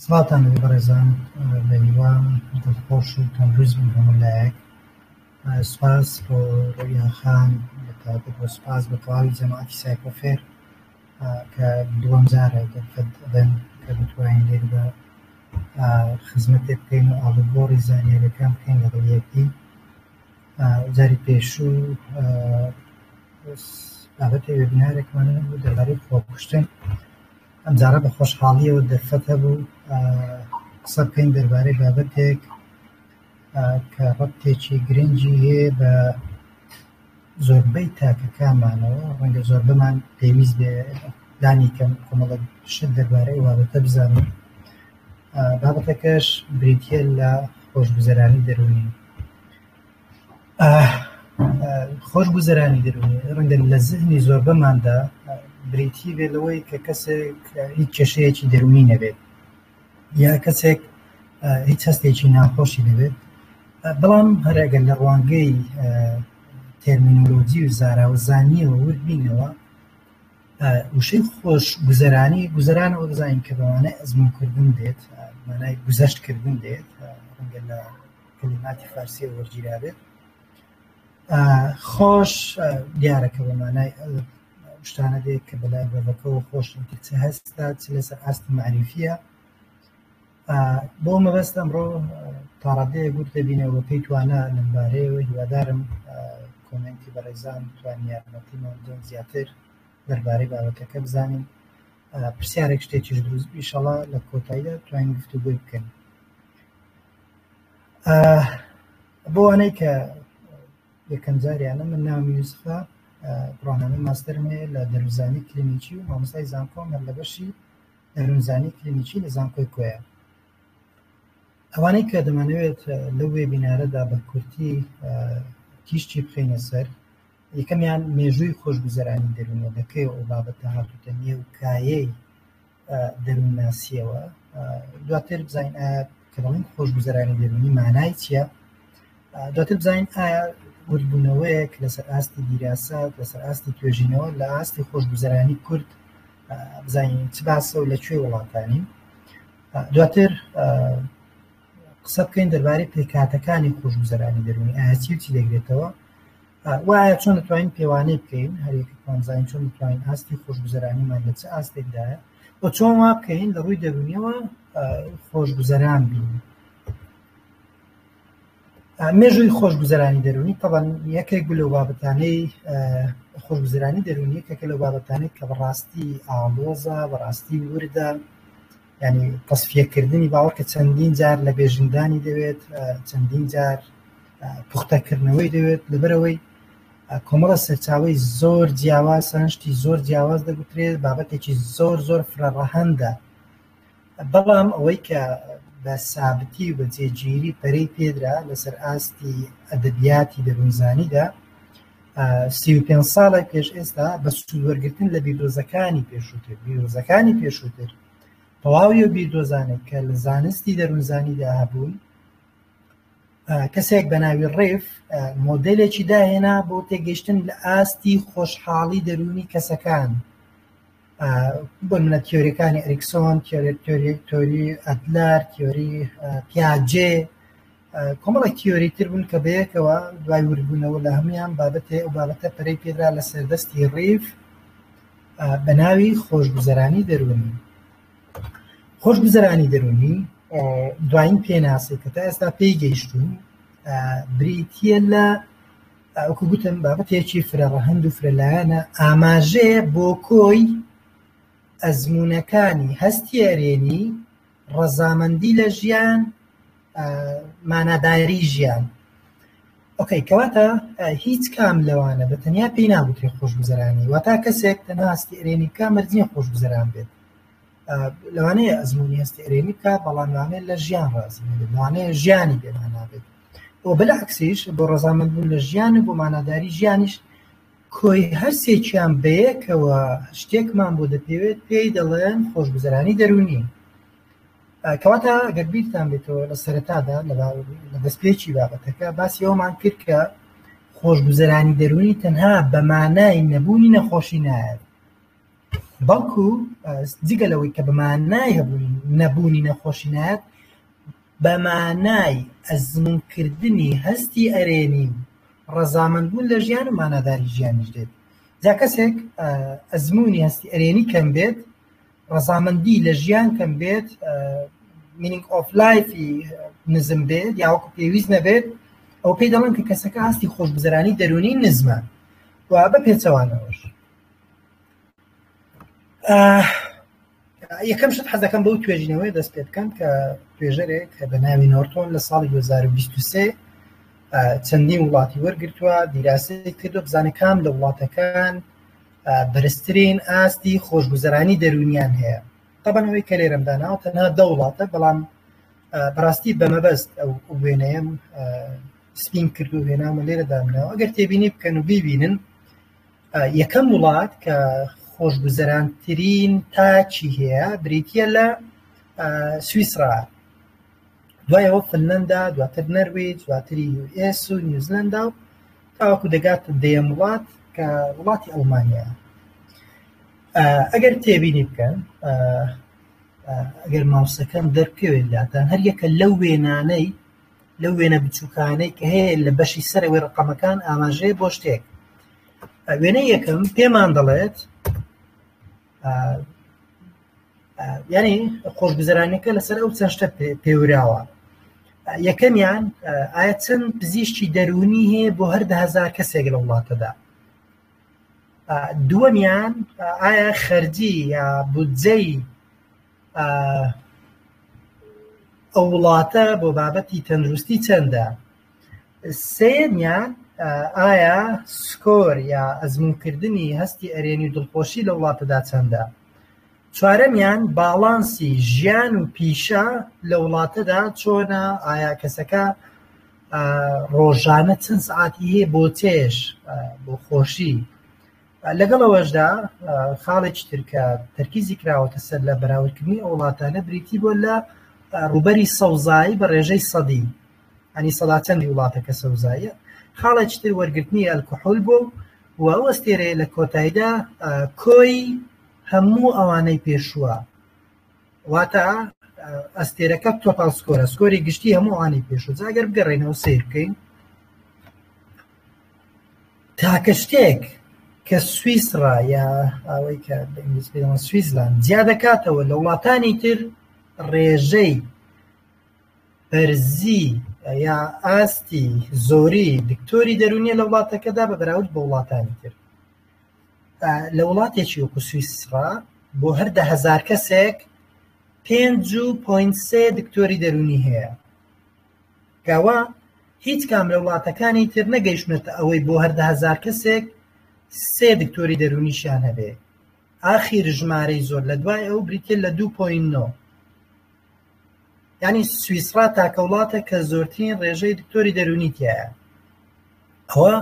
سڵاوتان لەبێ بەڕێزان بەهیوام دڵخۆش و تەندروست بن هەموو لایەک سپاس بۆ ڕویان خان بەتابەت بۆ سپاس بە تەواوی جەماعەتی سایکۆفێر کە دووەم جارە دەرفەت دەدەن کە بتوانین لێردا خزمەتێک بکەین و ئاڵوگۆڕی زانیاریەکان بکەین لەگەڵ یەکدی جاری پێشوو بابەتی وێبنارێکمان بوو دەبارەی خۆکوشتن ئەمجارە بە خۆشحاڵیەوە دەرفەت هەبوو قسە بکەین دەربارەی بابەتێک کە ڕەبتێکی گرنگی هەیە بە زۆربەی تاکەکانمانەوە ڕەنگە زۆربەمان پێویست بێ لانی کەم کۆمەڵە شت دەربارەی بابەتە بزانین بابەتەکەش بریتە لە خۆشگوزەرانی دەروونی خۆش گوزەرانی دەروونی ڕەنگە لە زهنی زۆربەماندا بریتی بێ لەوەی کە کەسێک هیچ کێشەیەکی دەروونی نەبێت یا کەسێک هیچ هەستێکی ناخۆشی نەبێت بەڵام هەرەگەن لە ڕوانگەی تەرمینۆلۆجی و زاراوەزانیەوە وردبینەوە وشەی خۆش گوزەرانی گوزەران ئەو دەزانین کە بەوانە ئەزمونکردن دێت مانای گوزەشتکردن دێت ڕەنگە لە کەلیماتی فارسیەوە وەرگیرابێت خۆش دیارە کە بە مانای شتانە دێت کە بەلای بەبەکەەوە خۆشن کە چ هەستا چ لەسەر ئاست معریفە بۆ مەبەست ئەمڕۆ تاڕادەیە گوت دەبینەوە پێی توانە لەمبارەیەوە هیوادارم کۆمنتی بەڕێزان توانیارمەتیمان دۆن زیاتر دەربارەی بابەتەکە بزانین پرسیارێک شتێکیش دروست ئیشەڵا لە کۆتاییدا توانین گفتوگوی بکەین بۆوانەی کە یەکەم جاریانە من ناوم یوسفە بڕوانامەی ماستەرم هەیە لە دەروونزانی کلینیکی و مامۆستای زانکۆم هەر لە بەشی دەروونزانی کلینیکی لە زانکۆی کۆیە ئەوانەی کە دەمانەوێت لەو وێبینارەدا بە کورتی تیشکی بخەینە سەر یەکەمیان مێژووی خۆشگوزەرانی دەروونەدەکەی و ئەو بابەتە هاتووتە نێو کایەی دەروونناسییەوە دواتر بزانین ئایا کە دەڵێن خۆشگوزەرانی دەروونی مانای چییە دواتر بزانین ئایا وردبوونەوەیەک لەسەر ئاستی دیراسات لەسەر ئاستی توێژینەوە لە ئاستی خۆشگوزەرانی کورد بزانین چ باسە و لە کوێ وڵاتانی دواتر قسە بکەین دەربارەی پێکاتەکانی خۆشگوزەرانی دەروونی ئاچیوتی دەگرێتەوە وایە چۆن دەتوانین پێوانەی بکەین هەریەکەمان زانین چۆن دەتوانین ئاستی خۆشگوزەرانیمان لە چ ئاستێکدایە و چۆن وا بکەین لە ڕووی دەرونیەوە خۆشگوزەران بین مێژووی خۆشگوزەرانی دەرونی تەبەن یەکێک بوو لەو بابەتانەی خۆشگوزەرانی دەرونی یەکێکە لەو بابەتانێک کە بەڕاستی ئاڵۆزە بەڕاستی وردە یعنی تەسفیەکردنی باوەڕ کە چەندین جار لە بێژنگدانی دەوێت چەندین جار پوختەکردنەوەی دەوێت لەبەرەوەی کۆمەڵە سەرچاوی زۆر جیاواز سەرنجشتی زۆر جیاواز دەگوترێت بابەتێکی زۆر زۆر فرەڕەهندە بەڵام ئەوەی کە بە سابتی و بە جێگیری پەری پێدرا لەسەر ئاستی ئەدەبیاتی دەروونزانیدا سی و پێنج ساڵێک پێش ئێستا بە سوود وەرگتن لە بیردۆزەکانی پێشووتر بیرۆزەکانی پێشووتر تەواوی و بیردۆزانێک کە لە زانستی دەروونزانیدا هەبوون کەسێک بە ناوی ڕێف مۆدلێکی داهێنا بۆ تێگەشتن لە ئاستی خۆشحاڵی دەروونی کەسەکان بۆنمونە تیۆریەکانی ئەریکسۆن تیۆری ئەدلەر تیۆری پیاجێ کۆمەڵێک تیۆری تر بوون کە بەیەکەوە دوای وردبوونەوە لە هەمویان بابەتێ و بابەتە پەرەی پێدرا لە سەردەستی ڕیف بە ناوی خۆشگوزەرانی دەروونی خۆشگوزەرانی دەروونی دوایین پێناسی کە تا ئێستا پێی گەیشتون بریتە لە وەکو گوتم بابەتێکی فرە ڕەهەند و فرە لایەنە ئاماژەیە بۆ کۆی ئەزمونونەکانی هەستی ئەرێنی ڕەزامەندی لە ژیان ماناداری ژیان ئۆکەی کەواتە هیچ کام لەوانە بە تەنیا پێی ناگوترێت خۆشگوزەرانی وەتا کەسێک تەناستی ئەرێنی بکە مەرزیە خۆشگوزەران بێت لەوانەیە ئەزمموی هەستی ئەرێنی بکە بەڵاموانێت لە ژیان ڕاز لەوانەیە ژیانی بێمانابێت و بلەعەکسیش بۆ ڕەزامەند بوون لە ژیان و بۆ ماناداری ژیانیش کۆی هەر سێکیان بەیەکەوە شتێکمان بۆ دەپێوێت پێی دەڵێن خۆشگوزەرانی دەروونی کەواتە گەر بیرتان بێتەوە لە سەرەتادا لە دەستپێکی بابەتەکە باسی ئەومان کرد کە خۆشگوزەرانی دەروونی تەنها بە مانای نەبوونی نەخۆشی نایەت بەڵکو جگە لەوەی کە بەمانای هەبوونی نەبوونی نەخۆشی نایەت بە مانای ئەزموونکردنی هەستی ئەرێنی و ڕەزامەندبوون لە ژیان و ماناداری ژیانیش دێت. جا کەسێک ئەزموونی هەستی ئەرێنی کەم بێت، ڕەزامەندی لە ژیان کەم بێت، مینینگ ئۆف لایفی نزم بێت یا وەکو پێویست نەبێت، ئەوە پێی دەڵێن کە کەسەکە هەستی خۆشگوزەرانی دەروونی نزمە و بە پێچەوانەوەش. یەکەم شت حەزەکەم بەو توێژینەوەی دەست پێ بکەم کە توێژەرێک کە بە ناوی نۆرتۆن لە ساڵی 2023 چەندی وڵاتی وەرگتووە دیراسی کردو بزانە کام لە وڵاتەکان بەرزترین ئاستی خۆشگوزەرانی دەرونیان هەیە تەبەنەوەی کە لێرەمدا ناو تەنها دە وڵاتە بەڵام بەڕاستی بەمەبەست ئەو وێنەیەم سپین کردو وێنامە لێرە دامنەوە ئەگەر تێبینی بکەن و بیبینن یەکەم وڵات کە خۆشگوزەرانترین تاکی هەیە بریتە لە سویسرا دوایەوە فنلەندا دواتر نەرویج دواتری ئێس و نیوزلندا و تاوەکو دەگات دەیەم وڵات کە وڵاتی ئەڵمانیا ئەگەر تێبینی بکەن ئەگەر ماوسەکەم دەرکەوێت لاتان هەر یەکە لەو وێنانەی لەو وێنە بچووکانەی کە هەیە لە بەشی سەرەوەی ڕقەمەکان ئاماژەیە بۆ شتێک وێنە یەکەم پێمان دەڵێت یعنی خۆشگوزرانەکە لەسەر ئەو چەند شتە پێوراوە یەکەمیان ئایا چەند پزیشتی دەرونی هەیە بۆ هەر دهزار کەسێک لە وڵاتەدا دووەمیان ئایا خەرجی یا بودجەی ئەو وڵاتە بۆ بابەتی تەندروستی چەندە سێمیان ئایا سکۆر یا ئەزمونکردنی هەستی ئەرێنی و دڵخۆشی لە وڵاتەدا چەندە چوارەمیان باڵانسی ژیان و پیشە لە وڵاتەدا چۆنە ئایا کەسەکە ڕۆژانە چەند سعاتی هەیە بۆ چێش بۆ خۆشی لەگەڵ ئەوەشدا خاڵێکی ترکە تەرکیزی کراوەتە سەر لە بەراوردکردنی ئەو وڵاتانە بریتی بۆ لە ڕوبەری سەوزایی بە ڕێژەی سەدی ئەنی سەداچەندی وڵاتەکە سەوزایە خاڵێکی تر وەرگرتنی ئەلکحول بۆ و ئەو ئەستێرێ لە کۆتاییدا کۆی هەموو ئەوانەی پێشووە واتە ئەستێرەکە تۆپال سکۆرە سکۆری گشتی هەمووانی پێشوو جاگەر بگەڕێنەوە سیر بکەین تاکە شتێک کە سویسڕا یا ئەوەی کە بە ئینگلیزی پێ دەڵێن سویسلاند جیا دەکاتەوە لە وڵاتانی تر ڕێژەی بەرزی یا ئاستی زۆری دکتۆری دەرونیە لە وڵاتەکەدا بە بەراورد بە وڵاتانی تر لە وڵاتێکی وەکو سویسڕا بۆ هەر دە هەزار کەسێک پێنج و پۆینت سێ دکتۆری دەرونی هەیە گەوە هیچ کام لە وڵاتەکانی تر نەگەیشتونەتە ئەوەی بۆ هەر دە هەزار کەسێک سێ دکتۆری دەروونیشیان هەبێ ئاخیر ژمارەی زۆر لە دوای ئەو بریتیە لە دوو پۆینت نۆ یانی سویسڕا تاکە وڵاتە کە زۆرترین ڕێژەی دکتۆری دەروونی تایە ئەوە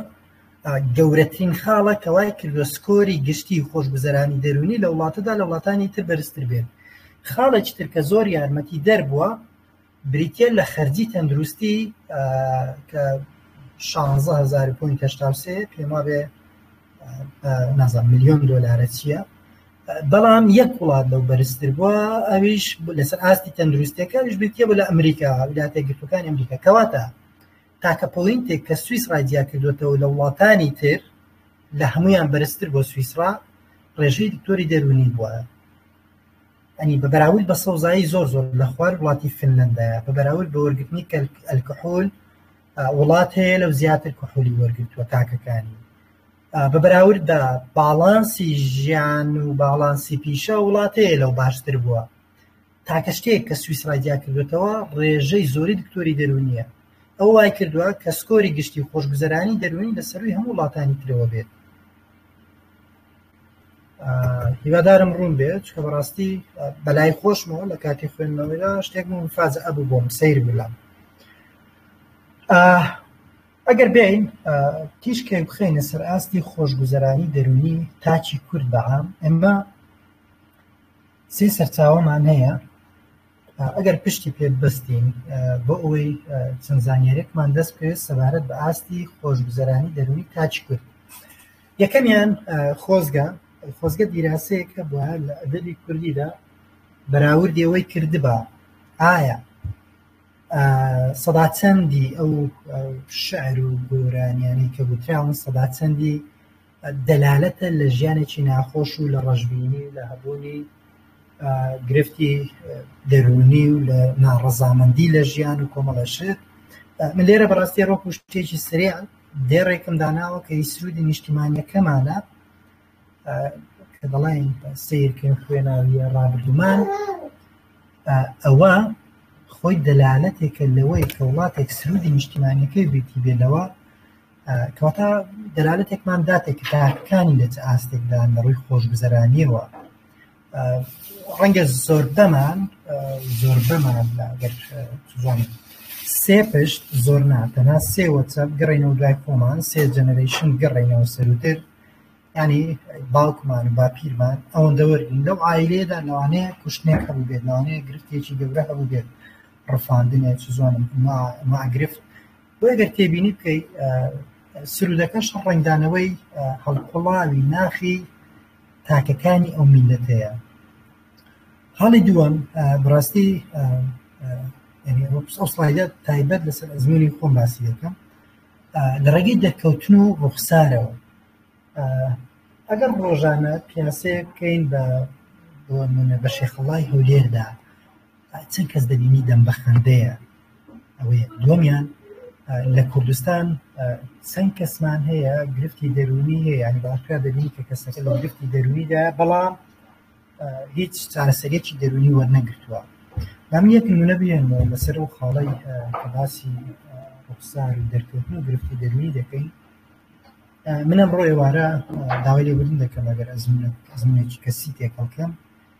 گەورەترین خاڵە کەوای کردوە سکۆری گشتی خۆشگوزەرانی دەروونی لە وڵاتەدا لە وڵاتانی تر بەرزتر بێت خاڵێکی ترکە زۆر یارمەتی دەربووە بریتیە لە خەرجی تەندروستی کە شانزە هەزار و پۆینت هەشتا و سێ پێم وابێ نازان ملیۆن دۆلارە چییە بەڵام یەک وڵات لەو بەرزتر بووە ئەویش لەسەر ئاستی تەندروستەکەش بریتە بە لە ئەمریکا ویلاتە گرتوەکانی ئەمریکا کەواتە تاکە پۆینتێک کە سوئیس ڕایجیا کردوێتەوە لە وڵاتانی تر لە هەمویان بەرزتر بۆ سوئیسرا ڕێژەی دکتۆری دەرونی بووە ئەنی بە بەراورد بە سەوزایی زۆر زۆر لە خوار وڵاتی فنلندایە بە بەراورد بە وەرگرتنی ئەلکحول وڵات هەیە لەو زیاتر کحولی وەرگتووە تاکەکانی بە بەراورد بە باڵانسی ژیان و باڵانسی پیشە وڵات هەیە لەو باشتر بووە تاکە شتێک کە سویسرا جیا کردوێتەوە ڕێژەی زۆری دکتۆری دەرونیە ئەو وای کردووە کە سکۆری گشتی خۆشگوزەرانی دەروونی لە سەروی هەموو وڵاتانی ترەوە بێت هیوادارم ڕوون بێت چکە بەڕاستی بەلای خۆشمەوە لە کاتی خوێندنەوەیدا شتێک من فاز ئەبوو بۆم سیر بولام ئەگەر بین تیشکێ بخینە سەر ئاستی خۆشگوزەرانی دەرونی تاچی کورد بەعام ئەمە سێ سەرچاوەمان هەیە ئەگەر پشتی پێ بەستین بۆ ئەوەی چەند زانانیارێکمان دەست بکەوێت سەبارەت بە ئاستی خۆشگوزەرانی دەرونی تاچ کرد یەکەمیان خۆزگە خۆزگە دیراسەیەک هەبووە لە ئەدەبی کوردیدا بەراوردی ئەوەی کردبا ئایا سەدا چەندی ئەو شعر و گۆرانیانی کە گوتراون سەدا چەندی دەلالەتە لە ژیانێکی ناخۆش و لە ڕژبینی لە هەبوونی گرفتی دەرونی و لە ناڕەزامەندی لە ژیان و کۆمەڵەشت من لێرە بەڕاستی ڕۆ پشتێکی سرێ دێڕێکم داناوە کە هی سروودی نیشتیمانیەکەمانە کە دەڵێن سیرکن خوێناویە ڕابردومان ئەوە خۆی دەلالەتێکە لەوەی کە وڵاتێک سروودی نیشتیمانەکەی بێتی بێلەوە کەواتە دەلالەتێکمان داتێک کە تاکەکانی لە چ ئاستێکدان لە ڕووی خۆشگوزەرانیەوە ڕەنگە زۆربەمان زۆربەمان ئەگەر بزانین سێ پشت زۆر نا تەنها سێ وەچە بگەڕێینەوە دوای خۆمان سێ جەنەرەیشن بگەڕێینەوە سەروتر ینی باوکمان و باپیرمان ئەوەندە وەرگین لەو ئایلێدا لەوانەیە کوشتنێک هەبوو بێت لەوانەیە گرفتێکی گەورە هەبوو بێت ڕفاندنێ چ زۆنم ماگرفت بۆ گەر تێبینی بکەیت سرودەکەش ڕنگدانەوەی هەڵقڵاوی ناخی تاکەکانی ئەو میلەتەیە هەڵی دووەم بڕاستی ئەو سڵایدە تایبەت لەسەر ئەزمونی خۆم باسی دەکەم لە ڕێگەی دەکەوتن و ڕوخسارەوە ئەگەر ڕۆژانە پیاسەیە بکەین بە بۆ منە بە شێخەڵای هەولێردا چەند کەس دەبینی دەم بە خەندەیە ئەوەیە دووەمیان لە کوردستان چەند کەسمان هەیە گرفتی دەروونی هەیە یعنی باشکرا دەبینی کە کەسەکە لە گرفتی دەروونیدا بەڵام هیچ چارەسەرێکی دەروونی وەرنەگرتووە من یەک نمونە بێنەوە لەسەر و خاڵی کە باسی ڕوخسار و دەرکەوتن و گرفتی دەروونی دەکەین منم ڕۆ ئێوارە داوای لێبوردن دەکەم ئەگەر ئەزمونێکی کەسی تێکەڵکەم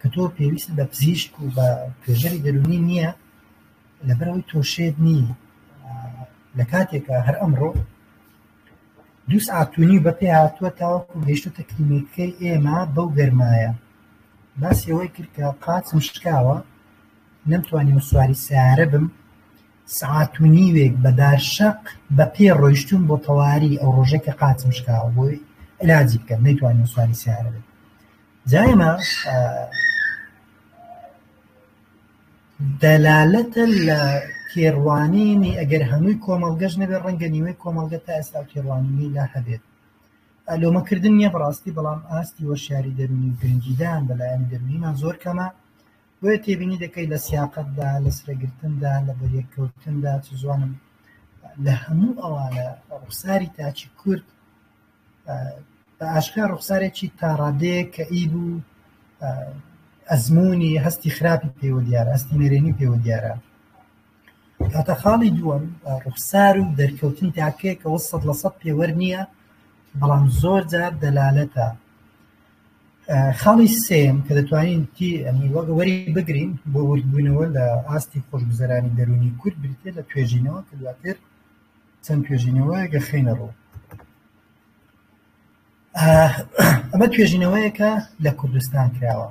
کە تۆ پێویستت بە پزیشک و بە توێژەری دەروونی نییە لەبەرەوەی تۆ شێت نی لە کاتێکە هەر ئەمڕۆ دووس ئاتونی بە پێ هاتووە تاوەکو گەشتوتە کلینیکەکەی ئێمە بەو گەرمایە باسیەوەی کرد کە قاچم شکاوە نەمتوانی سواری سیارە بم سعات و نیوێک بەدار شەق بە پێ ڕۆیشتون بۆ تەواری ئەو ڕۆژێکە قاچم شکاوە بۆی علاجی بکەم نەیتوانین سواری سیارە بێت جائمە دەلالەتە لە تێڕوانینی ئەگەر هەمووی کۆمەڵگەش نەبێت ڕەنگە نیوەی کۆمەڵگە تا ئێستا تێڕوانینی لا هەبێت لۆمەکردن نییە بەڕاستی بەڵام ئاستی وەشیاری دەرونی و گرنگیدان بەلایەنی دەرونیمان زۆر کەمە بۆ تێبینی دەکەی لە سیاقتدا لە سرەگرتندا لە بەریەککەوتندا چ زوانم لە هەموو ئەوانە ڕوخساری تاکی کورد بە ئاشکرا ڕوخسارێکی تا ڕادەیەک کە ئی بوو ئەزمموی هەستی خراپی پێوە دیارە هەستی نەرێنی پێوە دیارە کاتە خاڵی دووەم ڕوخسار و دەرکەوتن تاکەیە کە وە سەد لە سەد پێوەەر نییە بەڵام زۆر جار دەلالەتە خاڵی سێم کە دەتوانین تی ئەمی وەگەوەری بگرین بۆ وردبوونەوە لە ئاستی خۆشگوزەرانی دەرونی کورد بریتێ لە توێژینەوە کە دواتر چەند توێژینەوەیەک دەخەینە ڕوو ئەمە توێژینەوەیەکە لە کوردستان کراوە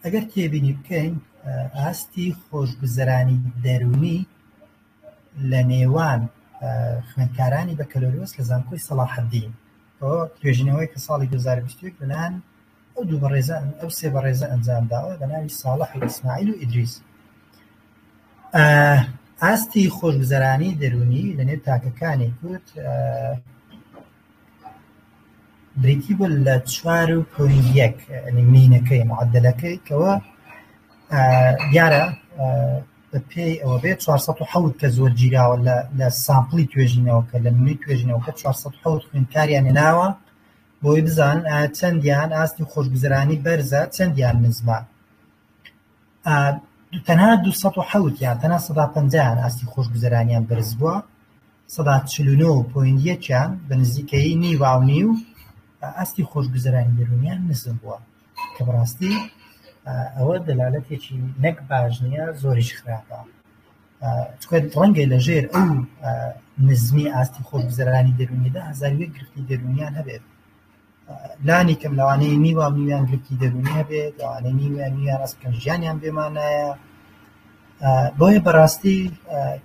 ئەگەر تێبینی بکەین ئاستی خۆشگوزەرانی دەروونی لە نێوان خوێندکارانی بەکەلۆریۆس لە زانکۆی سەڵاحەدین توێژینەوەی کە ساڵی 2020 لەلایەن ئەو دوو بەڕێزە ئەو سێ بەڕێزە ئەنجام داوە بە ناوی ساڵح و ئیسماعیل و ئیدریس ئاستی خۆشگوزەرانی دەرونی لە نێو تاکەکانی کورد بریتی بوو لە چوار و پۆین یەک مینەکەی معدلەکەی کەەوە دیارە بە پێی ئەوە بێت 400 کە زۆر گیراوە لە سامپلی توێژینەوە کە لە منی توێژینەوە کە 400 خوێنکاریان ناوە بۆی بزانن ئایا چەندیان ئاستی خۆشگوزەرانی بەرزە چەندیان نزمە تەنها 1970 یان تەنها 150 ئاستی خۆشگوزەرانیان بەرز بووە 1970یان بە نزیکەی نیواونی و ئاستی خۆشگوزەرانی دەرونیان نزم بووە کە بەڕاستی ئەوە دەلالەتێکی نەک باش نییە زۆریش خراپە تکێت ڕەنگە لەژێر ئەو نزمی ئاستی خۆگوزەرانی دەرونیدا هەزاری گرفتی دەرونیان هەبێت لانی کەم لەوانەیە نیوە میوان گرفتی دەرونی هەبێت لەوانەیە نیوە نیوان ڕاستکەم ژیانیان بێمانایە بۆیە بەڕاستی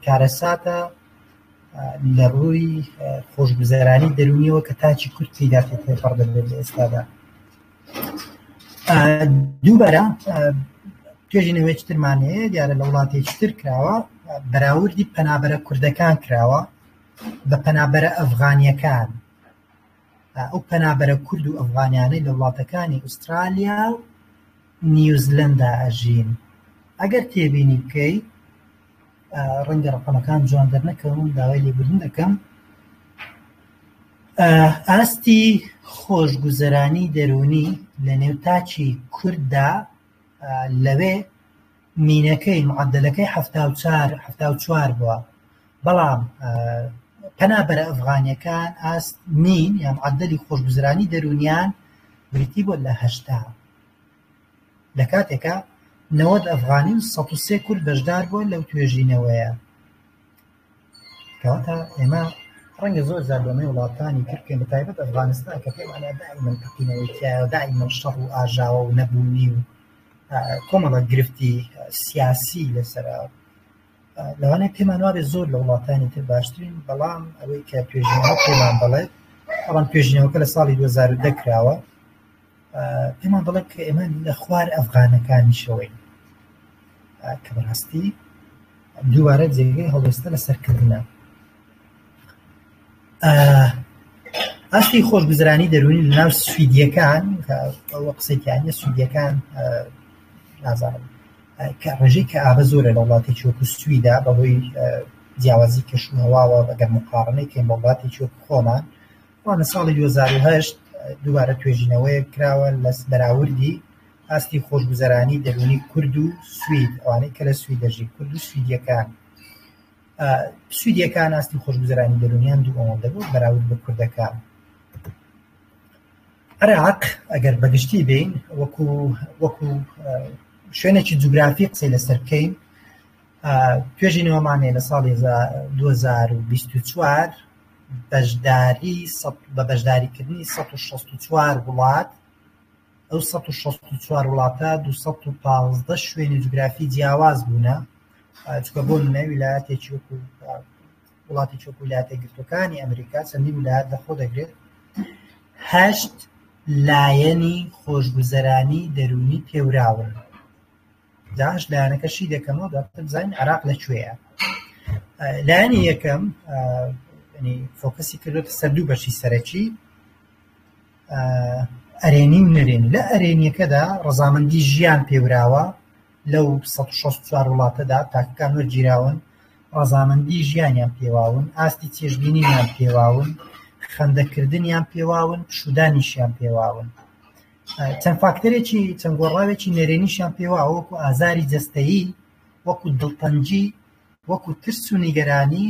کارەساتە لە ڕووی خۆشگوزەرانی دەرونیەوە کە تاچی کورتی داخێت پڕ دەبێت لە ئێستادا دووبارە توێژی نوێکی ترمانەیە دیارە لە وڵاتێکی تر کراوە بەراوردی پەنابەرە کوردەکان کراوە بە پەنابەرە ئەفغانیەکان ئەو پەنابەرە کورد و ئەفغانیانەی لە وڵاتەکانی ئوسترالیا و نیوزلندا ئەژین ئەگەر تێبینی بکەیت ڕەنگە ڕەقەمەکان جوان دەرنەکەون داوای لێبوردن دەکەم ئاستی خۆشگوزەرانی دەروونی لە نێو تاچی کورددا لەوێ مینەکەی معدلەکەی چوار بووە بەڵام پەنا بەرە ئەفغانیەکان ئاست مین یان عدلی خۆشگوزرانی دەرونیان بریتی بۆ لە هەشتا لە کاتێکا نەوەد ئەفغانی و سەد و سێ کورد بەشدار بووە لەو توێژینەوەیە. کەواتە ئێمە ڕەنگە زۆر زار بەمەی وڵاتانی تر بکەین بە تایبەت ئەفغانستان کە پێمان دائیمەن تەقینەوەی تایە دائیمەن شەڕ و ئاژاوە و نەبوونی و کۆمەڵە گرفتی سیاسی لەسەرا لەوانە پێمان وابێ زۆر لە وڵاتانی تر باشترین بەڵام ئەوەی کە توێژینەوە پێمان بڵێت ئەوان توێژینەوەکە لە ساڵی 2010 کراوە پێمان دەڵێن کە ئێمە لە خوار ئەفغانەکانیشەوەین کە بەڕاستی دووارە جێگەی هەڵوێستە لە سەرکردە ئاستی خۆشگوزرانی دەروونی لە ناو سویدیەکان ئەوە قسەکیانە سویدیەکان نازانم کە ڕێژەی کە ئابە زۆرە لە وڵاتی چۆکو سویدا بەهۆی جیاوازی کەشوهواوە بەگەر مقاڕنەی کە وڵاتی چۆک خۆمان وا لە ساڵی دوو هەزار و هەشت دووبارە توێژینەوەیەک کراوە لە بەراوردی ئاستی خۆشگوزەرانی دەروونی کورد و سوید ئەوانەی کە لە سوید دەژی کورد و سویدیەکان سویدیەکان ئاستی خۆشگوزەرانی دەرونیان دوو ئەوەندە بوو بەراورد بە کوردەکان عراق ئەگەر بەگشتی بین وەکو وەکو شوێنێکی جوگرافی قسەی لەسەر بکەین توێژینەوەمانێ لە ساڵی 2024 بە بەشداریکردنی سەد و شەست و چوار وڵات، ئەو سەد و شەست و چوار وڵاتە دوو سەد و پازدە شوێنی جوگرافی جیاواز بوونە، چونکە بۆ نمونە ویلایەتێکی وەکو وڵاتێکی وەکو ویلایەتە یەکگرتووەکانی ئەمریکا چەندین ویلایەت لەخۆ دەگرێت، هەشت لایەنی خۆشگوزەرانی دەروونی پێوراون. داعش لایەنەکە شی دەکەمەوە دواتر بزانین عراق لە کوێیە لایەنی یەکەم فۆکەسی کردوێتە سەر دوو بەشی سەرەکی ئەرێنی و نەرێن لە ئەرێنیەکەدا ڕزامەندی ژیان پێوراوە لەو 16 وڵاتەدا تاکەکان وەرگیراون ڕزامەندی ژیانیان پێواون ئاستی چێژبینیان پێواون خەندەکردنیان پێواون شودانیشیان پێواون چەند فاکتەرێکی چەند گۆڕاوێکی نەرێنیشیان پێوە وەکو ئازاری جەستەیی وەکو دڵتەنگی وەکو ترس و نیگەرانی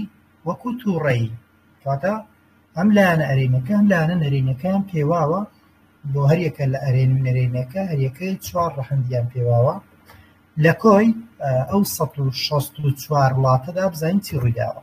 وەکو توڕەیی کەواتە ئەم لایەنە ئەرێنەکە ئەم لایەنە نەرێنەکەیان پێواوە بۆ هەریەکە لە ئەرێن و نەرێنەکە هەریەکەی چوار ڕەهەندیان پێواوە لە کۆی ئەو 1664 وڵاتەدا بزانین چی ڕوویداوە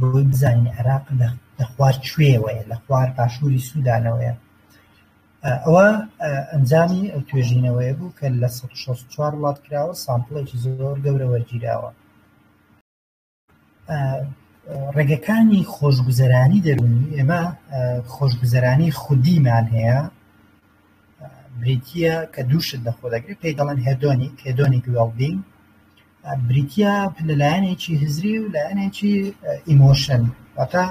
بۆی بزانین عێراق لە خوار کوێوەیە لە خوار باشووری سوودانەوەیە ئەوە ئەنجامی ئەو توێژینەوەیە بوو کە لە 1964 وڵات کراوە سامپڵێکی زۆر گەورە وەرگیراوە ڕێگەکانی خۆشگوزەرانی دەرونی ئێمە خۆشگوزەرانی خودیمان هەیە بریتە کە دووشت لە خۆ دەگرێت پێی دەڵێن هێدۆنی کێدۆنی گوێڵبین بریتیە لە لایەنێکی هزری و لایەنێکی ئیمۆشن واتا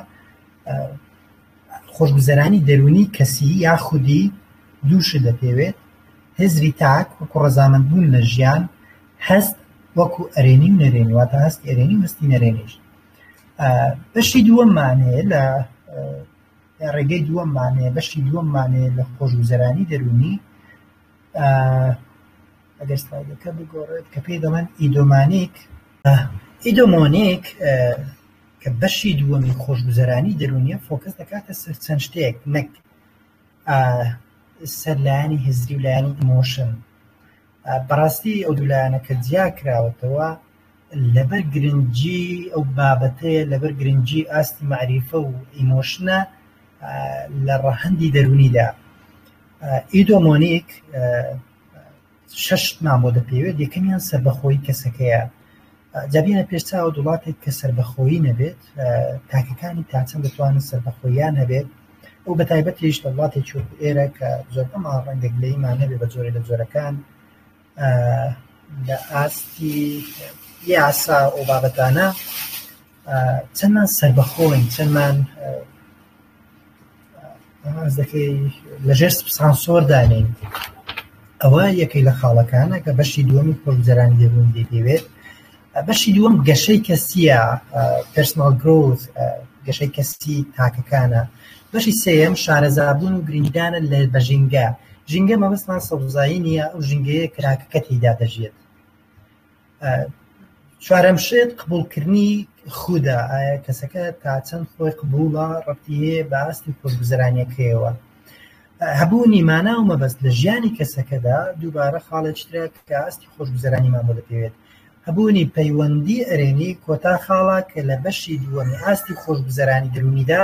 خۆشگوزەرانی دەرونی کەسی یا خودی دووشت دەپێوێت هزری تاک وەکو ڕزامەند بوون لە ژیان هەست وەکو ئەرێنی و نەرێنی واتە هەستی ئەرێنی وستی نەرێنیش بەشی دووەمانێ لە ڕێگەی دووەمانێ بەشی دووەمانێ لە خۆشگوزەرانی دەرونی ئەگەر سلایدەکە بگۆڕێت کە پێی دەڵێن ئیدۆمانیک. ئیدۆمۆنیک کە بەشی دووەمی خۆشگوزەرانی دەرونیە فۆکەس دەکاتە سەر چەند شتێک نەک سەر لایەنی هزری و لایەنی ئیمۆشن بەڕاستی ئەو دولایەنە کە جیا کراوەتەوە لەبەر گرنگجی ئەو بابەتەیە لەبەر گرنگجی ئاستی معریفە و ئیمۆشنە لە ڕەهندی دەرونیدا ئیدۆمۆنیک شەش مان بۆ دەپێوێت یەکەمیان سەربەخۆی کەسەکەیە جابیە پێش چاوە وڵاتێک کە سەربەخۆی نەبێت تاکەکانی تاچە دەتوانن سەربەخۆیان هەبێت ئەو بە تایبەت هیچ لە وڵاتی چۆ ئێرە کە زۆر ئەما ڕەنگە گلەیمان نەبێت بە زۆرە لە زۆرەکان لە ئاستی یاسا و بابەتانە چەندمان سەربەخۆین چەندمان لەژێر سانسۆر دانێن ئەوە یەکەی لە خاڵەکانە کە بەشی دووەمی خۆگوزەرانی دەبوون دەیەوێت بەشی دووەم گەشەی کەسیە پرسنال گرۆز گەشەی کەسی تاکەکانە بەشی سێم شارەزابوون و گرنگدانە لە بە ژینگە ژینگە مەبەستمان سەوزایی نییە ئەو ژینگەیە کراکەکە تیدا دەژێت چوارەم شێت قبولکردنی خودا ئایا کەسەکە تا چەند خۆی قبوڵە ڕەتی هەیە بە ئاست و خۆشگوزرانیەکەیەوە هەبوونی مانا و مەبەست لە ژیانی کەسەکەدا دووبارە خاڵێکترە کە ئاستی خۆشگوزرانیمان بۆ دەپێوێت هەبوونی پەیوەندی ئەرێنی کۆتا خاڵە کە لە بەشی دووەمی ئاستی خۆشگوزرانی دەرونیدا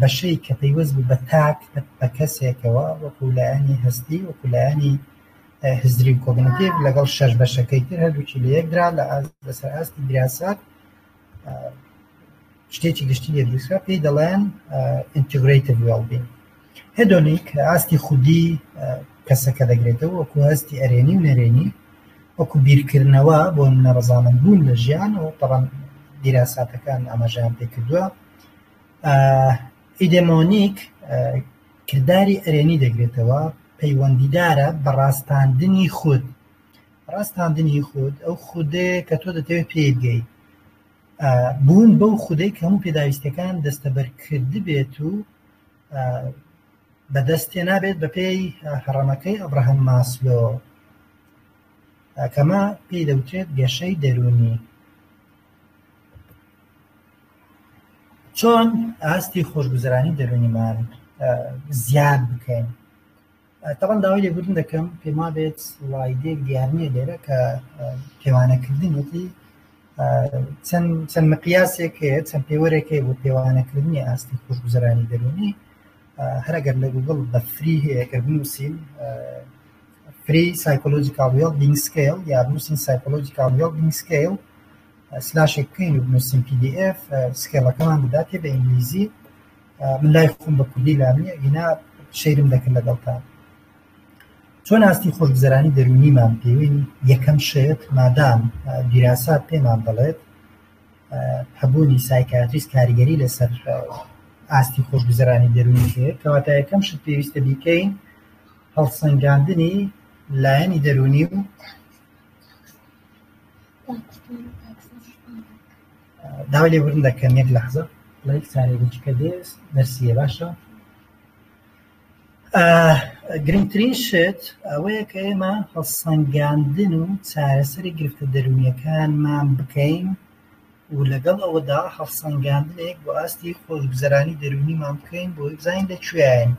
بەشەی کە پەیوەست بوو بە تاک بە کەسێکەوە وەکو لایەنی هەستی وەکو لایەنی هزری و کۆگنیتیڤ لەگەڵ شەش بەشەکەی تر هەردووکی لە یەکدرا لە لەسەر ئاستی دیراسات شتێکی گشتی لێ دروستکرا پێی دەڵێن ئینتیگرەیتیڤ وێڵبین هێدۆنیک ئاستی خودی کەسەکە دەگرێتەوە وەکو هەستی ئەرێنی و نەرێنی وەکو بیرکردنەوە بۆ نەڕزانن بوون لە ژیان و تەڕەن دیراساتەکان ئاماژەیان پێ کردووە ئیدێمۆنیک کرداری ئەرێنی دەگرێتەوە پەیوەندیدارە بە ڕاستاندنی خود ڕاستاندنی خود ئەو خودەیە کە تۆ دەتەوێت پێگەی بوون بەو خودەی کە هەموو پێداویستەکان دەستەبەرکرد بێت و بەدەستێ نابێت بە پێی هەڕەمەکەی ئەبراهەم ماسلۆ کەمە پێی دەوترێت گەشەی دەرونی چۆن ئاستی خۆشگوزرانی دەروونیمان زیاد بکەین تەڵەن داوای لێبوردن دەکەم پێما بێت وایدێک دیارنیە لێرە کە پێوانەکردنێتی چەند چەند مقیاسێک هەیە چەند پێوەرێکی بۆ پێوانەکردنی ئاستی خۆشگوزرانی دەروونی هەرگەر لە گوگڵ بە فری هەیە کە بنووسین Free Psychological Wellbeing Scale یا بنووسین Psychological Wellbeing Scale سلاشێک بکەین و بنووسین PDF سکێڵەکەمان بداتێ بە ئینگلیزی من لای خۆم بە کوردی لامی ئینا شەیرم دەکرد لەگەڵتان چۆن ئاستی خۆشگوزەرانی دەرونیمان پێوین یەکەم شێت مادام دیراسات پێمان دەڵێت هەبوونی سایکاتریست کاریگەری لەسەر ئاستی خۆشگوزەرانی دەرونی هەیە کەواتە یەکەم شت پێویستە بیکەین هەڵسەنگاندنی لایەنی دەروونی و داوای لێبوردن دەکەن یەک لەحزە لەک سارێکی کە دێس نەرسیە باشە گرنگترین شت ئەوەیە کە ئێمە هەڵسەنگاندن و چارەسەری گرفتە دەروونیەکانمان بکەین و لەگەڵ ئەوەدا هەڵسەنگاندنێک بۆ ئاستی خۆشگوزەرانی دەروونیمان بکەین بۆی بزانین لە کوێاین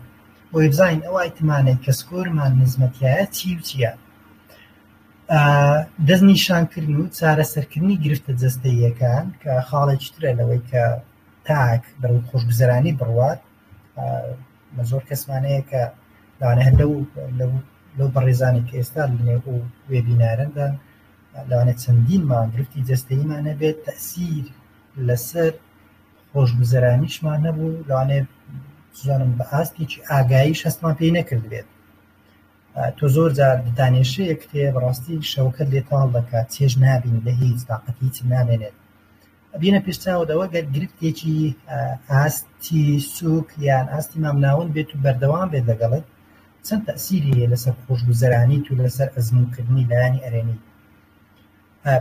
بۆی بزانین ئەو ئایتمانەی کە سکۆرمان نزمەتیایە چی و چیە دەست نیشانکردن و چارەسەرکردنی گرفتە جەستەییەکان کە خاڵێکی ترە لەوەی کە تاک بەرەو خۆشگوزەرانی بڕوات بە زۆر کەسمانەیە کە لەوانە هەر لەو لەو بەڕێزانێک ئێستا لەنێو وێبینارەدا لەوانەیە چەندین مانگ گرفتی جەستەییمان هەبێت تەئسیر لەسەر خۆشگوزەرانیشمان هەبوو لەوانەیە بزانم بە ئاستێکی ئاگاییش هەستمان پێی نەکردبێت تۆ زۆر جار دانێشەیە کتێ بەڕاستی شەوەکەت لێ تاڵ دەکات چێژ نابینی لە هیچ تاقەتی هیچت نامێنێت بینە پیرچاوەدەوە گەر گرفتێکی ئاستی سوک یان ئاستی مامناوەند بێت و بەردەوام بێت لەگەڵت چەند تەسیری هەیە لەسەر خۆشگوزەرانی و لەسەر ئەزمونکردنی لایانی ئەرێنی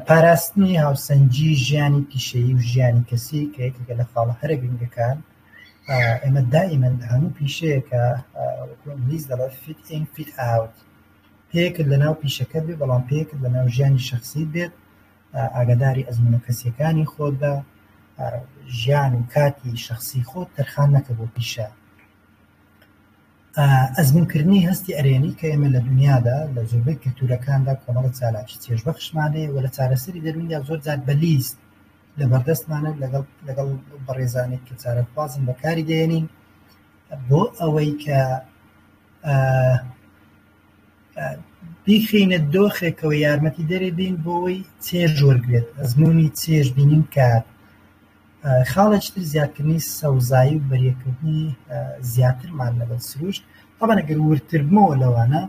پاراستنی هاوسەنگی ژیانی پیشەیی و ژیانی کەسی کە یەکێکە لە خاڵە هەرە گرنگەکان ئێمە دائیمەن هەموو پیشەیەکە ئینگلیز دەڵێ فیت ئین فیت ئاوت پێکرد لە ناو پیشەکە بێ بەڵام پێکرد لە ناو ژیانی شخصی بێت ئاگاداری ئەزموونە کەسییەکانی خۆت بە، ژیان و کاتی شەخسی خۆت تەرخان نەکە بۆ پیشە. ئەزموونکردنی هەستی ئەرێنی کە ئێمە لە دونیادا لە زۆربەی کلتوورەکاندا کۆمەڵە چالاکی چێژبەخشمان هەیە و لە چارەسەری دەروونیا زۆرجار بە لیست لە بەردەستمانە لەگەڵ لەگەڵ بەڕێزانی کە چارەخوازن بەکاری دێنین بۆ ئەوەی کە بیخەینە دۆخێکەوە یارمەتیدەری بین بۆی چێژ وەرگێت ئەزمونی چێژ بینین کار خاڵێک تر زیادکردنی سەوزایی و بەریەکردنی زیاترمان لەگەڵ سروشت ئەمەگەر ورتربمەوە لەوانە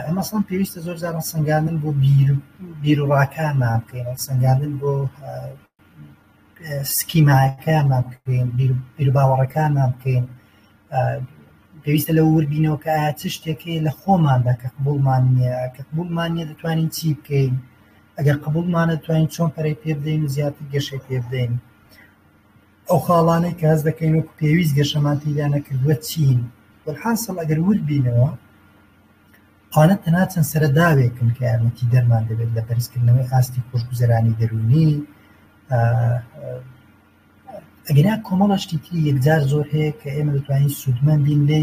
ئەمەسان پێویستە زۆر زارە سنگاندن بۆ بیر و ڕاکانمان بکەین سنگاندن بۆ سکیماکانمان بکەین بیرباوەڕەکانمان بکەین پێویستە لە وردبینەوە کە ئایا چ شتێکی لە خۆماندا کە قبولمان نییە کە قبولمان نیە دەتوانین چی بکەین ئەگەر قبولمانە توانین چۆن پەرەی پێ بدەین و زیاتر گەشەی پێ بدەین ئەو خاڵانەی کە هەز دەکەین وەکو پێویست گەشەمان تیدا نەکردووە چین وەحاصل ئەگەر ورد بینەوە ئەوانە تەنها چەند سەرەداوێکن کە یارمەتیدەرمان دەبێت لە بەرزکردنەوەی ئاستی خۆشگوزەرانی دەروونی ئەگەنا کۆمەڵەشتی تری یەکجار زۆر هەیە کە ئێمە دەتوانین سوودمەند بین لێ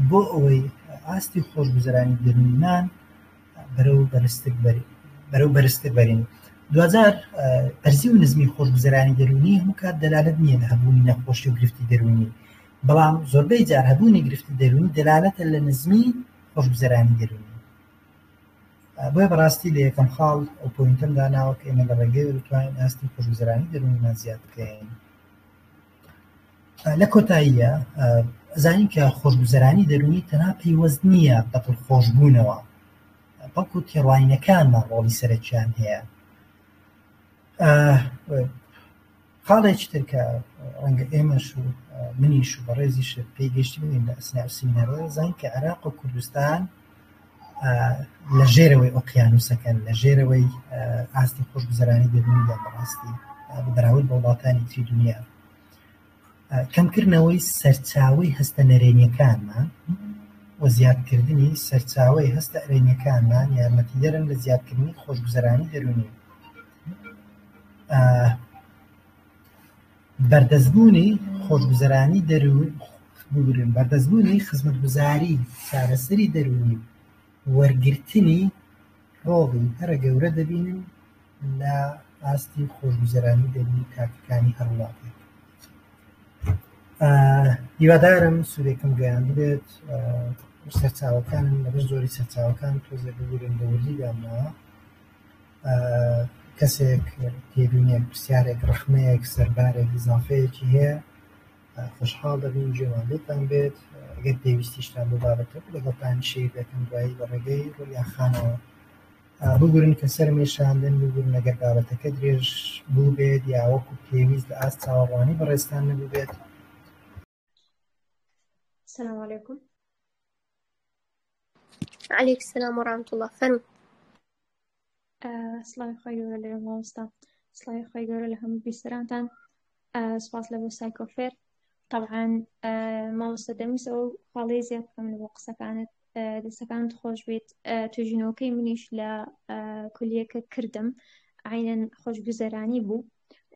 بۆ ئەوەی ئاستی خۆشگوزەرانی دەروونمان بەرەو بەرزتر بەری بەرەو بەرزتر بەرین دوجار پەرزی و نزمی خۆشگوزەرانی دەروونی هەموو کات دەلالت نییە لە هەبوونی نەخۆشی و گرفتی دەروونی بەڵام زۆربەی جار هەبوونی گرفتی دەروونی دەلالەتە لە نزمی خۆشگوزەرانی دەروونی بۆیە بەڕاستی لە یەکەم خاڵ ئەو پوینتم داناوە کە ئێمە لە ڕێگەی بتوانین ئاستی خۆشگوزەرانی دەروونیمان زیاد بکەین لە کۆتاییە زانین کە خۆشگوزەرانی دەروونی تەنها پەیوەست نییە بەتڵ خۆشببوونەوە بەڵکو تێڕوانینەکانمان ڕۆڵی سەرەکیان هەیە خاڵێکی تر کە ڕەنگە ئێمەش و منیش و بەڕێزیش پێی گەشتبین لە ئەسنای سینەرۆ زان کە عێراق و کوردستان لە ژێرەوەی ئۆقیانوسەکەن لە ژێرەوەی ئاستی خۆشگوزەرانی دەبنیدا بەڕاستی بەراورد بە وڵاتانی تری دنیا کەمکردنەوەی سەرچاوی هەستە نەرێنیەکانمان و زیادکردنی سەرچاوی هەستە ئەرێنیەکانمان یارمەتیدەرن لە زیادکردنی خۆشگوزەرانی دەرونی بەردەستبوونی خۆشگوزەرانی دەروون بگرن بەردەستبوونی خزمەتگوزاری چارەسەری دەروونی وەرگرتنی ڕۆڵی هەرە گەورە دەبینن لە ئاستی خۆشگوزەرانی دەروونی تاکەکانی هەر وڵاتێک هیوادارم سوودێکم گەیان بێت سەرچاوەکانم لەبەر زۆری سەرچاوەکان تۆزێ بگورن بە وردی دامناوە کەسێک تێبینێک پرسیارێک ڕەخنەیەک سەربارێک ئیزافەیەکی هەیە خۆشحاڵ دەبین جێمان لێتان بێت ئەگەر پێویستیشتان بۆ بابەتە لەگەڵتان شیر دەکەم دوایی بە ڕێگەی ڕویاخانەوە بگورن کە سەرمێشاندن بگورن ئەگەر بابەتەکە درێژ بوو بێت یاوەکو پێویست لە ئاست چاوەڕوانی بەڕێزتان نەبوو بێت السلام عليكم عليك السلام ورحمة الله فەرمو سڵاوی خۆی گەورە لە مامۆستا سڵاوی خۆی گەورە لە هەموو بیسەرانتان سپاس لە بۆ سایکۆفێر طبعا مامۆستا دەمیس ئەو خاڵی زیاد بکەم لە بۆ قسەکانت دەستەکانت خۆش بێت توژینەوەکەی منیش لە کولیەکە کردم عینەن خۆشگوزەرانی بوو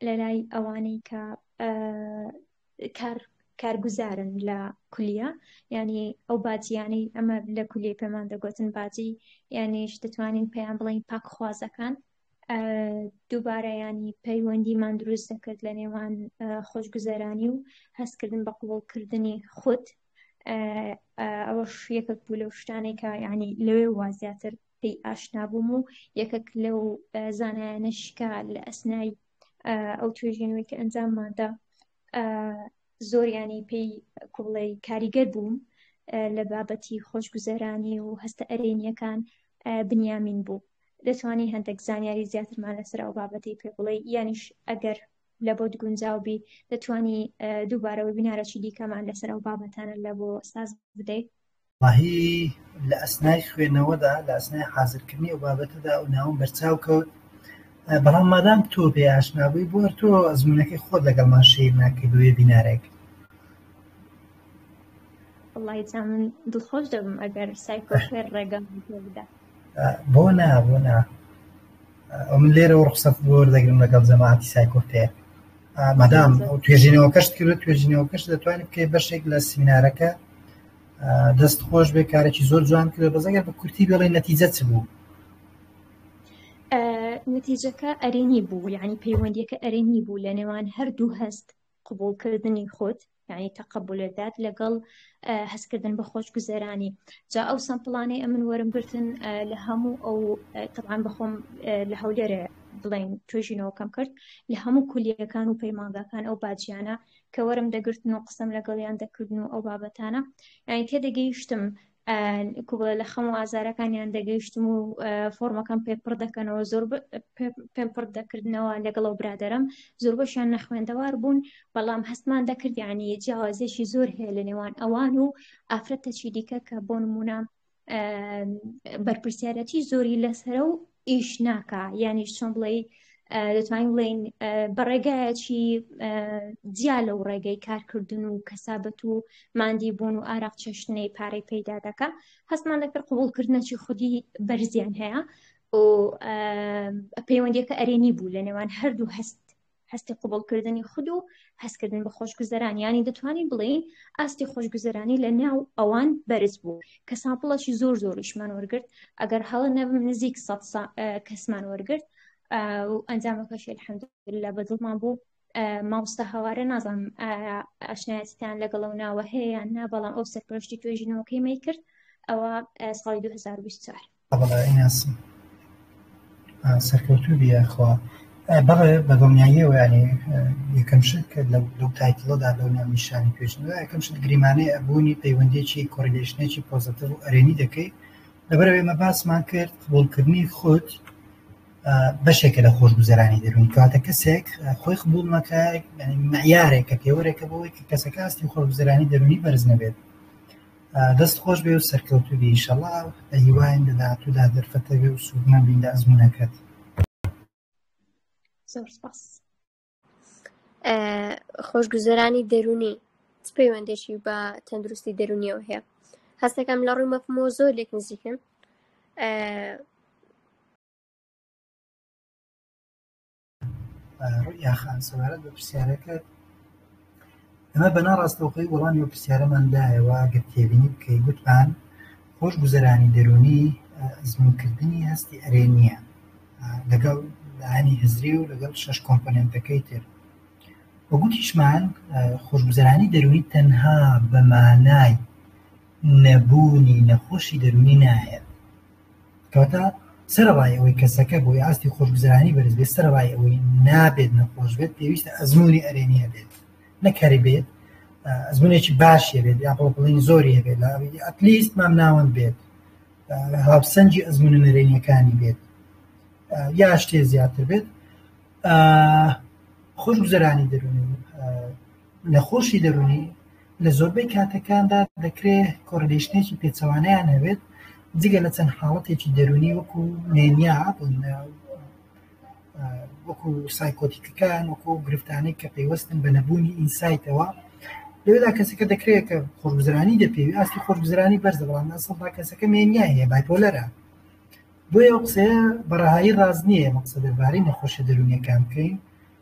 لە لای ئەوانەی کە کار کارگوزارن لە کولیە ینی ئەو باجیانەی ئەمە لە کولی پێمان دەگوتن باجی یانیش دەتوانین پێیان بڵین پاکخوازەکان دووبارە ینی پەیوەندیمان دروست دەکرد لە نێوان خۆشگوزەرانی و هەستکردن بە قوڵکردنی خودت ئەوە یەکەک بوو لەو شتانێکە ینی لەوێ وازیاتر پێی ئاشنا بووم و یەکەک لەو زانایانش کە لە ئەسنای ئەو توێژینەوەی کە ئەنجامماندا زۆریانی پێی کوڵی کاریگەر بووم لە بابەتی خۆشگوزەرانی و هەستە ئەرێنیەکان بنیامین بوو دەتوانانی هەندێک زانیاری زیاترمان لەسەر ئەو بابەتی پێ بڵێ یانیش ئەگەر لە بۆت گونجاوبی دەتوانی دووبارەوە بینارەی دیکەمان لەسەر ئەو بابەتانە لە بۆ ساز بدەیت وەڵاهی لە ئەسنای خوێنەوەدا لە ئەسنای حازرکردنی ئەو بابەتەدا ئەو ناوەم بەرچاو کەوت بەڵام مادام تۆ پێی ئاشنا بووی بۆ تۆ ئەزموونەکەی خۆت لەگەڵمان شەیر ناکەی بە وێبینارێک وەڵاهی جا من دڵخۆش دەبم ئەگەر سایکۆفێر ڕێگەم پێ بدا بۆ نا بۆ نا ئەو من لێرەوە ڕخسەت بۆ وەردەگرم لەگەڵ جەماعەتی سایکۆفێر مادام ئەو توێژینەوەکەشت کرد توێژینەوەکەش دەتوانێت بکەی بەشێک لە سمینارەکە دەست خۆش بێ کارێکی زۆر جوان کرد بەزەگەر بە کورتی بڵێ نەتیجە چ بوو نتیجەکە ئەرێنی بوو یعنی پەیوەندیەکە ئەرێنی بوو لە نێوان هەردوو هەست قوبولکردنی خۆت یعنی تەقبولێدات لەگەڵ هەستکردن بە خۆش گوزەرانی جا ئەو سەمپڵانەی ئەمن وەرم گرتن لە هەموو ئەو تەوان بەخۆم لە هەولێرە بڵین توێژینەوەکەم کرد لە هەموو کولیەکان و پەیمانگاکان ئەو باجیانە کە وەرم دەگرتن و قسەم لەگەڵیان دەکردن و ئەو بابەتانە یانی تێدەگەیشتم کوبڵە لە خەم و ئازارەکانیان دەگەیشتم و فۆرمەکەم پێ پڕ دەکەنەوە زۆر پێم پڕ دەکردنەوە لەگەڵ و برادرم زۆر بەشیان نەخوێندەوار بوون بەڵام هەستمان دەکردیانی جیاوازێکی زۆر هەیە لە نێوان ئەوان و ئافرەتەچی دیکە کە بۆ نمونە بەرپرسیارەتی زۆری لەسرە و ئیش ناکە یانی چۆن بڵێ دەتوانین بڵین بە ڕێگایەکی جیا لەو ڕێگەی کارکردن و کەسابەت و مادی بوون و ئاراق چێشتنەی پارەی پەیدا دەکە هەستمان دەکرد قوبولکردنەچی خودی بەرزیان هەیە و پەیوەندیەکە ئەرێنی بوو لە نێوان هەردوو هەست هەستی قوبڵکردنی خود و هەستکردن بە خۆشگوزەران یانی دەتوانین بڵێین ئاستی خۆشگوزەرانی لە ناو ئەوان بەرز بوو کە سامپڵەشی زۆر زۆریشمان وەرگرت ئەگەر هەڵە نەبم نزیک سە کەسمان وەرگرت ئەنجامەکەشی الحمد لە بەدڵمان بوو مامۆستا هەوارە نازانم ئاشنایەتیتان لەگەڵ و ناوە هەیە یان نا بەڵام ئەو سەرپەرشتی توێژینەوەکەی مەی کرد ئەوە ساڵی 2024 بەڵێ ناسم سەرکەوتوو بی یاخوا بەڵێ بە دڵنیاییەوە یانی یەکەم شت کە لەو لەو تایتڵەدا لەو ناونیشانی پێشندا یەکەم شت گریمانەی ئەبوونی پەیوەندیەکی کۆریلێشنێکی پۆزەتیڤ و ئەرێنی دەکەی لەبەرەوە ئێمە باسمان کرد قبوڵکردنی خۆت بەشێکە لە خۆشگوزەرانی دەروون کاتە کەسێک خۆی قبول نەکە یعنی معیارێکە پێوەرێکە بۆی کە کەسەکە ئاستی خۆشگوزەرانی دەرونی بەرز نەبێت دەست خۆشبێ و سەرکەوتوبی ئیشەڵا بەهیواین لە داهاتوودا دەرفەتەبێ و سوودمەندبین لە ئەزمونەکەت زۆر سپاس خۆشگوزەرانی دەرونی چ پەیوەندێکی بە تەندروستی دەرونیەوە هەیە هەستەکەم لە ڕووی مەفمۆ زۆر لێک نزیکن ڕوئیا خان سەبارەت بە پرسیارەکەت ئەمە بەنا ڕاستەوخی وەڵامی و پرسیارەمان دایەوە گە تێبینی بکەی گوتمان خۆش گوزەرانی دەرونی ئەزمونکردنی هەستی ئەرێ نییە لەگەڵ لانی هزری و لەگەڵ شش کۆمپۆننتەکەی تر وەگوتیشمان خۆشگوزەرانی دەروی تەنها بەمانای نەبوونی نەخۆشی دەرونی نایە کەواتە سەرەڕای ئەوەی کەسەکە بۆی ئاستی خۆشگوزەرانی بەرز بێت سەرەڕای ئەوەی نابێت نەخۆش بێت پێویستە ئەزمموی ئەرێنیە بێت نەکەری بێت ئەزمونێکی باشە بێت یا بۆ بڵین زۆری هەبێت لە ئەتلیست مام ناوەند بێت هاوسەنجی ئەزمونە نەرێنیەکانی بێت یا شتێ زیاتر بێت خۆشگوزەرانی دەرونی نەخۆشی دەروونی لە زۆربەی کاتەکاندا دەکرێ کۆرلیشنێکی پێچەوانەیان هەبێت، جگە لە چەند حاڵەتێکی دەروونی وەکو مێنیا وەکو سایکۆتیکەکان وەکو ئەو گرفتانەی کە پەیوەستن بە نەبوونی ئینسایتەوە لەوێدا کەسەکە دەکرێت کە خۆشگوزرانی دەپێوی ئاستی خۆشگوزرانی بەرزە بەڵام ئەسڵدا کەسەکە مێنیا هەیە بایپۆلەرە بۆیە ئەو قسەیە بەڕەهایی ڕاست نییە مەقسە دەربارەی نەخۆشە دەروونیەکان بکەین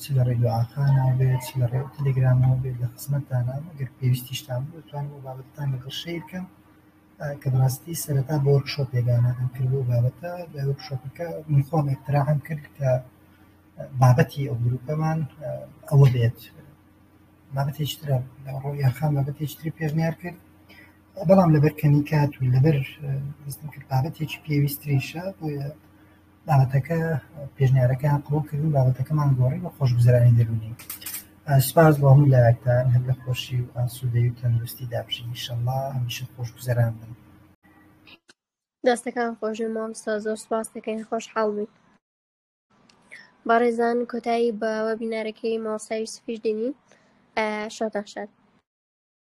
چ لە ڕێی دوعاخانەوە بێت، چ لە ڕێی تەلەگرامەوە بێت، لە خزمەتتانام. ئەگەر پێویستیشتان بوو، دەتوانم ئەو بابەتەتان لەگەڵ شەیر بکەم، کە بەڕاستی سەرەتا بۆ ورکشۆپێک دانانم کرد بۆ ئەو بابەتە. لە ورکشۆپەکە من خۆم ئیقتراحم کرد کە بابەتی ئەو گرووپەمان ئەوە بێت. بابەتێکی ترە، ڕۆیا خان بابەتێکی تری پێشنیار کرد، بەڵام لەبەر کەمی کات و لەبەر هەستم کرد بابەتێکی پێویستتریشە، بۆیە بابەتەکە پێشنیارەکەیان قبوڵ کردن بابەتەکەمان گۆڕی بە خۆشگوزەرانی دەروونی سپاس بۆ هەموو لایەکتان هەر لە خۆشی و ئاسوودەی و تەندروستی دابژین ئیشەڵڵا هەمیشە خۆشگوزەران بن دەستەکان خۆش مامۆستا زۆر سپاس دەکەین خۆشحاڵ بووین بەڕێزان کۆتایی بە وەبینارەکەی مامۆستا یوسفیش دێنین شاتان شاد